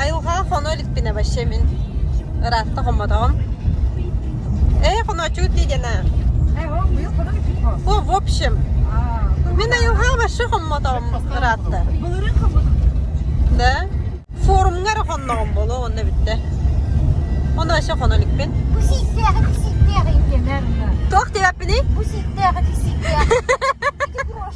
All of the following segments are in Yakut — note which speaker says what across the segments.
Speaker 1: Айылҕаҕа хоно иликпинэ вообще мин ыраатта хоммотоҕум. Эй, хоночук дигена. О, в общем, мен айылҕаҕа вообще хоммотоҕум ыраатта. Да? Форумҥа эрэ хонноҕум болуо онно бүттэ. Оны вообще хоно иликпин. Bu sitteği bir sitteği gelir mi? Туох диэбэппиний? Bu sitteği bir sitteği.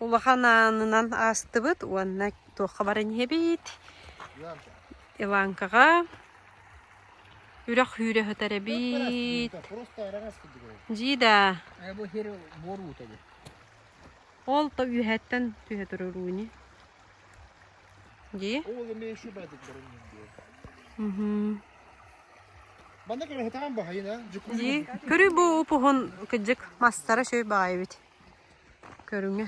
Speaker 1: улахан аанынан аастыбыт уонна туохха баран иһэбит Иванкаҕа үрэх үүрэ сытар эбит. Дьида. Ол то үһэттэн түһэ турар ууни. Дии? Дии. Көрүй бу упуһун кыдьык мастара сөй баайбит. Көрүҥэ.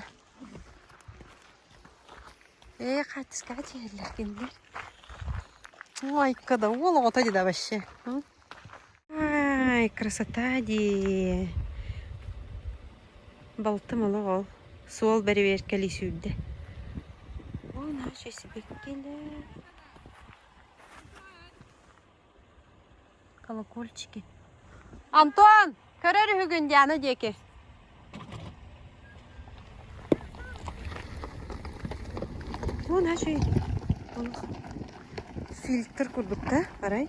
Speaker 1: Ээ, хааччыскаҕа түһэллэр кинилэр. Ой-ка да, уол оҕото дии да вообще. м? Ай, красота дии. Балтым олох ол. Суол бэрэбиэркэлии сүүрдэ. О, наша сибэккилэр. колокольчики антон көрөр үһүгүн диана диэки Вон ачый олох фильтр курдук да арай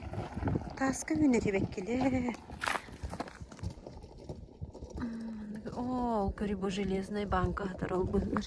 Speaker 1: тааска үүнэрибэккилэ ол кори бу железной банка хатар албыннар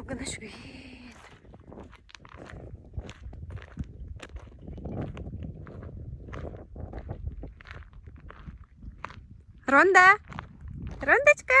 Speaker 1: Алгына үсүһүн. Ронда! Рондочка!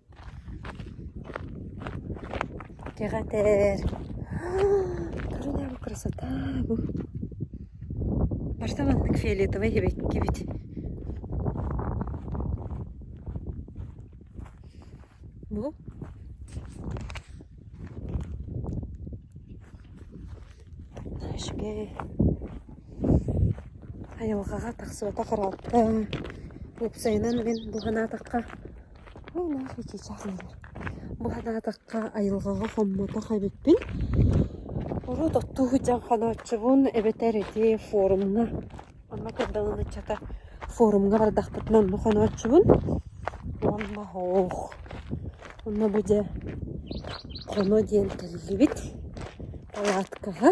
Speaker 1: Кэҕэтэр, королева красота бу. Барыта маннык фиолетовай эбэккибит. Бу Нашке айылҕаҕа тахсыбата харалта. Уопсайынан мин бу санаатахха Ой-нах, чыычаах диэнэр. Бу санаатахха айылҕаҕа хоммотох эбиппин. Урут оттуу сылдьан хонооччубун эбэтэр ити форумҥа онно көрдөҕүм ыччата форумҥа бардахпытына онно хонооччубун. Уонна оһох, онно бу дьэ хоно диэн кэллибит палаткаҕа.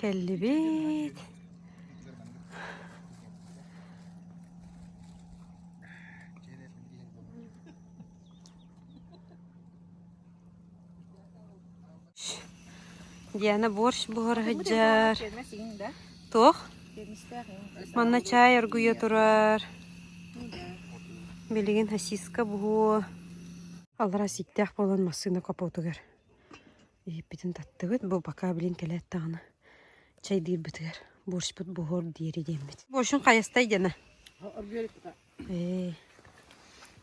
Speaker 1: Кэллибит Диана борщ буһара сылдьар. Туох? Манна чай оргуйа турар. Билигин сосиска буһуо. Алараа ситтээх буолан массыына капотугар. Иһиппитин таттыбыт, бу пока билин кэлээт даҕаны чайдыырбытыгар борщпут буһуор диэри диэммит. Борщун хайастай дьана? Э,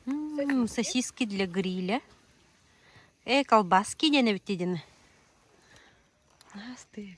Speaker 1: м, сосиски для гриля. Э, колбаски дьана бит дьана. Ас ты.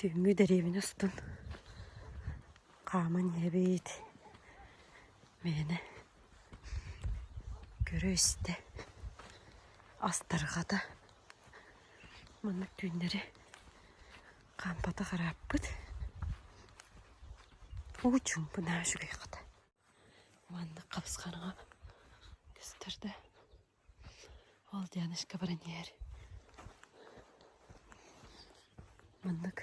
Speaker 1: Түүҥҥү дэриэбинэ устун хааман иһэбит, мээнэ көрө-истэ, астарҕата маннык түүннэри хаампатах ырааппыт. Уу чуумпунаа үчүгэй хата. Маннык хапысханаҕа көстөр да Ол Дианочка баран иһэр. Маннык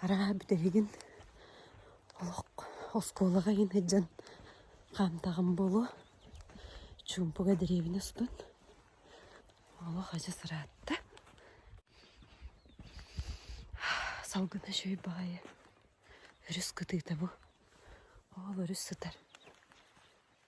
Speaker 1: арааһа бүтэһигин олох оскуолаҕа иһин сылдьан хаамтаҕым буолуо. Чуумпуга дэриэбинэ устун. Олох адьас ыраатта. Салгына үчүгэй баҕайы. Өрүс кытыыта бу. Ол өрүс сытар.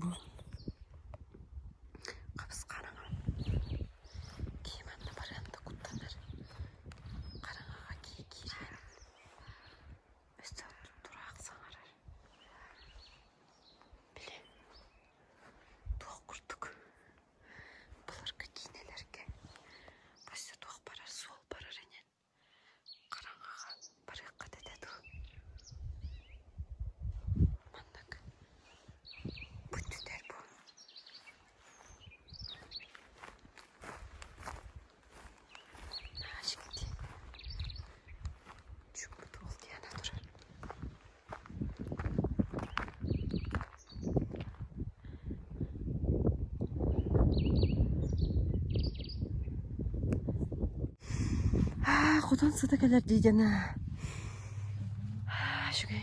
Speaker 1: Бу хапыс-хараҥа киһи манна барыан да куттанар. Хараҥаҕа киһи киирэн өссө тураах саҥарар. Били туох курдук былыргы киинэлэргэ хас да туох барар суол барар ини Хараҥаҕа барыахха этэ дуу маннык бу түтэр буолуо Наадька диэн чуумпут уол диана турар Аа, хотон сыта кэлэр дии дьана. Шүгэн.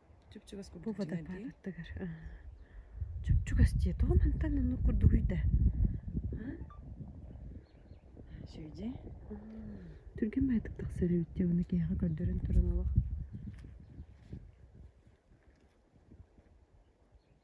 Speaker 1: бубадайдыы аттыгар чупчугас дии тоҕо мантан оннук курдугуй да сүүйдэ түргэн байтык тахсар эбит дии ону киһиэхэ көрдөрөн туран олох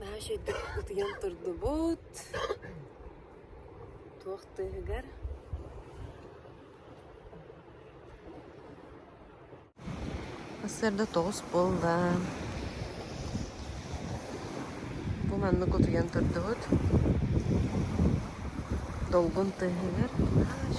Speaker 1: Баһааш үрдүк утуйан турдубут, туох тыаһыгар сарсыарда тоҕус буолла, бу маннык утуйан турдубут, долгун тыаһыгар баһааш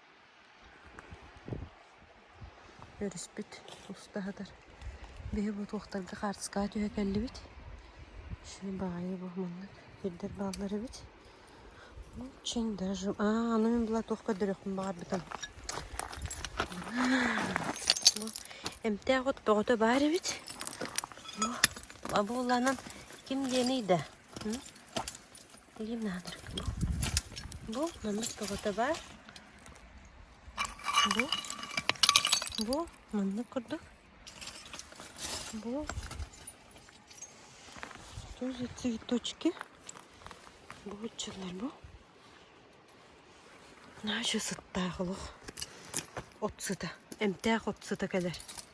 Speaker 1: Өрүспүт уста сытар. Биһи бу туохтарга хаартыскаҕа түһэ кэллибит. Ишини баҕайы бу маннык сирдэр бааллар эбит. Очень даже... А, ну мен была туох көрдөрүөхпүн баҕарбытым. Бу эмтээх от бөҕөтө баар эбит. Бу лабууланан ким диэний да? Эйиэм наадыр. Бу бу маннык тоҕото баар. Бу бу маннык курдук. Бу что за цветочки? Бу отчалар бу. Наша сыттаах олох. От сыта. Эмтээх от сыта кэлэр.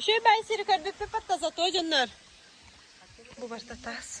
Speaker 1: Үчүгэй сири көрбүппүт потто зато дьоннор. Бу башта тас.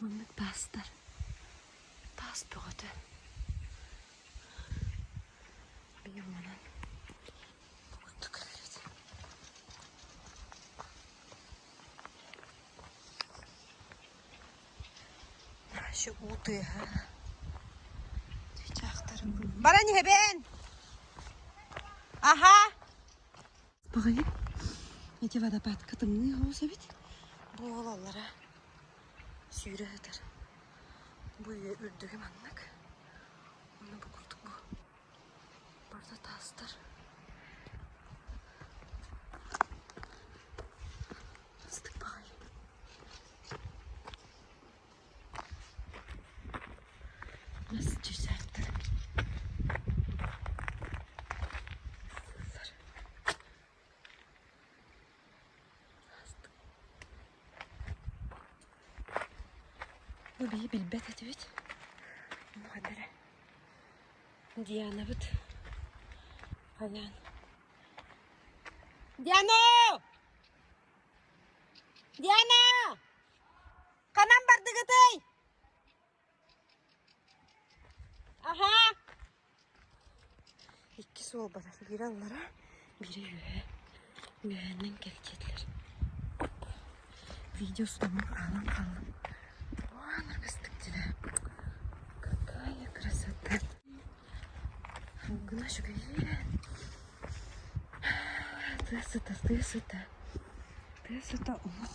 Speaker 1: Маннык таастар таас бөҕөтө быйыл манан куттук көрөрөт баран иһэбин аһа баҕайы ити водопадка тымныы соҕус эбит бу уолаллара сүүрэ сытар бу үйэ үрдүгэ маннык онно бу курдук бу Барда таастар астык баҕайы нас чыйсааттар Бу бии билбэт этибит. Муода эрэ. Дианабыт. Алян. Диана! Диана! Ханан бардыгытый? Иккис уол барар. Биирэ аллара, биирэ үөһэ. Үөһэнэн кэлчиэтилэр. Видео устубун аалан хааллым. Waan аргыстык дилэ. Какая красота. Гына шүгәйрә. Тыа сыта, тыа сыта. Тыа сыта олох.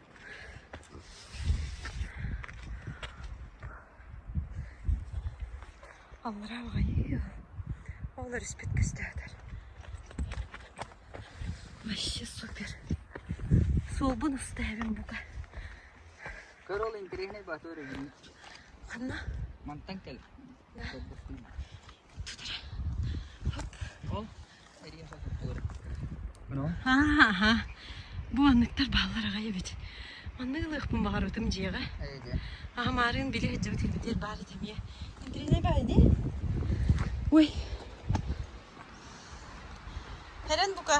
Speaker 1: Аллараа аҕайыы оҕолор испит көстөөтөр. Вообще супер. Суолбун уста эбим бука. Көр ол интеллигентный батор өгнү. Ханна? Мантан кел. Тутара. Хоп. Ол Аа, бу манныктар бааллар аҕай эбит. Маннык ылыахпын баҕарбытым дьиэҕэ. Аамаарын билэ сылдьабыт ирбитиэр баар этэ эмиэ. Интрине баар ди? Ой. Херен бука.